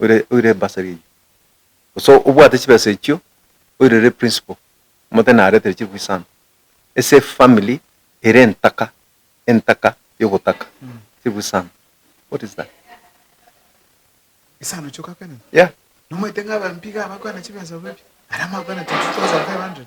oire oire bursary eyio. Gose obwate chibesa echio oirere principal, omote narete chifwi sana. Ase family ere entaka, entaka yogotaka chifwi sana. What is that? Ase anochie ogakwena? Yeah. Nomoete ng'a abambe iga abakwana chibesa bobe, aria mwakwana 22,500.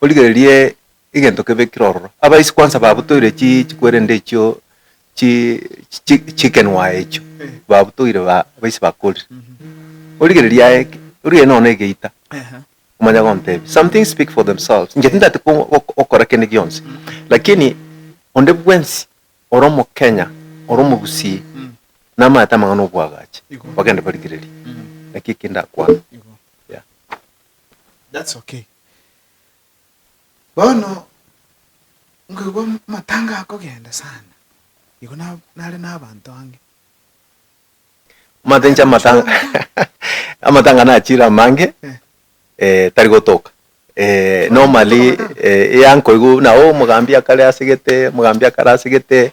Origererie egento kebe ekero ororo. Abaisi kwansa babutoire chi chikwerende echio chi chi chi chicken wire echio babutoire ba abaisi bakorire. Origereria aye ki origereria nonya na egeita Ehe. omanye agontebia. Some things speak for themselves. Inche tindati ko ok okora kende gionsi lakini onde bwensi ore omokenya ore omogusii Mm. namaete amang'ana obwagache Igo. bagende barigererie. Igo. Naki eki ndakwana. Igo. Yeah. That's okay. Bono nkoigwa amatanga akogenda sana, igo nare na abanto ange. Omanyete inche amatanga nachire amange tari gotoka normally ya nkoigwa nao omogambi akare asegete, omogambi akare asegete,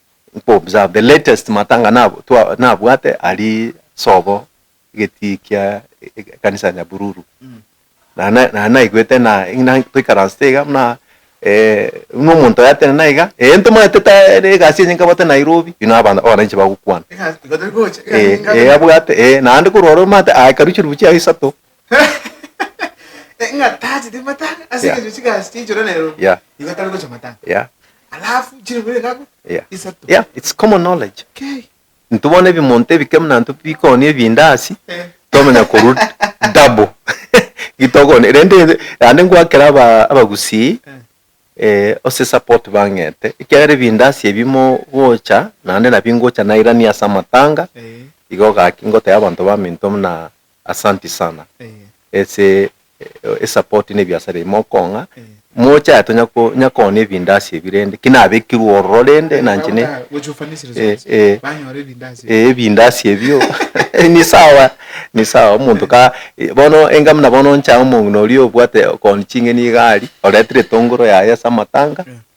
nko observe the latest matanga nabo twa nabwate aria sobo egetii kia ekanisa ya Nyabululu na na na naigwete na ng'ina toikaransete iga buna eh buna omonto oyatene na iga eh ntomanyete tare egasi enye nkabwate Nairobi buna abana abananchi bagokwana Egasi igo tari gocha egasi eh engabe eh abwate eh naende korwa ore omanyete aye karuchirubu chiaye isato ng'a tacheti matanga ase Yeah. eng'encho chigasi chiaichora Nairobi Yeah. nigo atari gocha matanga Yeah, alafu chirobere ngabu yeah. isato Yeah, it's common knowledge. Okay. Intwe bono ebimonto ebike muna intwe bikooni ebindasi Eh. twamanya korwa double gitokoni rende naende ngwakera aba- abagusii Eh. eh, ase support bang'ete ekiagera ebindasi ebi mogocha naende nabi ngocha nairania ase amatanga Eh. igo gaki ngoteba abanto baminto muna Asanti sana ase esupport ne ebiasara ebi mokong'a, mocha tonya konyakoonia ebindasi ebi rende ki nabekirwe ororo rende na inche ne ebindasi ebio ni sawa ni sawa omonto ka bono enga buna bono ncha omong'ina oria obwate okooni ching'eni iga aria oretire etongoro yaye ase amatanga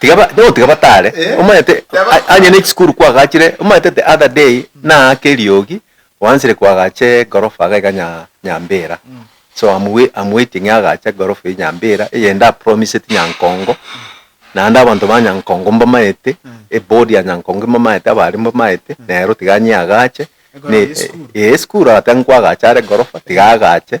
Tiga batare, omanyete onye ne chisukuru kwagachire, omanyete the other day naake eriogi, oansire koagacha egorofa iga nya Nyambera, so am wai- am waiting agache egorofa eye Nyambera, eye ndapromiseti Nyankongo, naende abanto ba Nyankongo mbamaete, eboard ya Nyankongo mbamaete, abaria mbamaete, nero tiga nyeagache, ne- eh, esukuru aa tiga nkoagache are egorofa, tiga agache.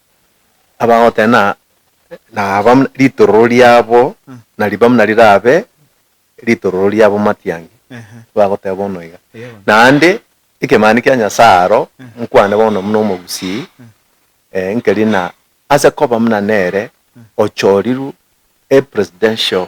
abagotena naba buna ritororo riabo Mm. nariba buna rirabe ritororo riabo matiangi, Ehe. bagoteba bono iga. Eyo bono. Naende ekemanero kia Nyasae aro Mm. nkwane bono buna omogusii, Mm. eh, nkeri buna ase koba buna nere ochorirwe a presidential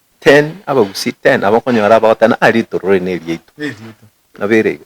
Ten, abagusii ten aba okonyora abagoteba, Ah, riitoro rire neriaito. Nabo ere igo.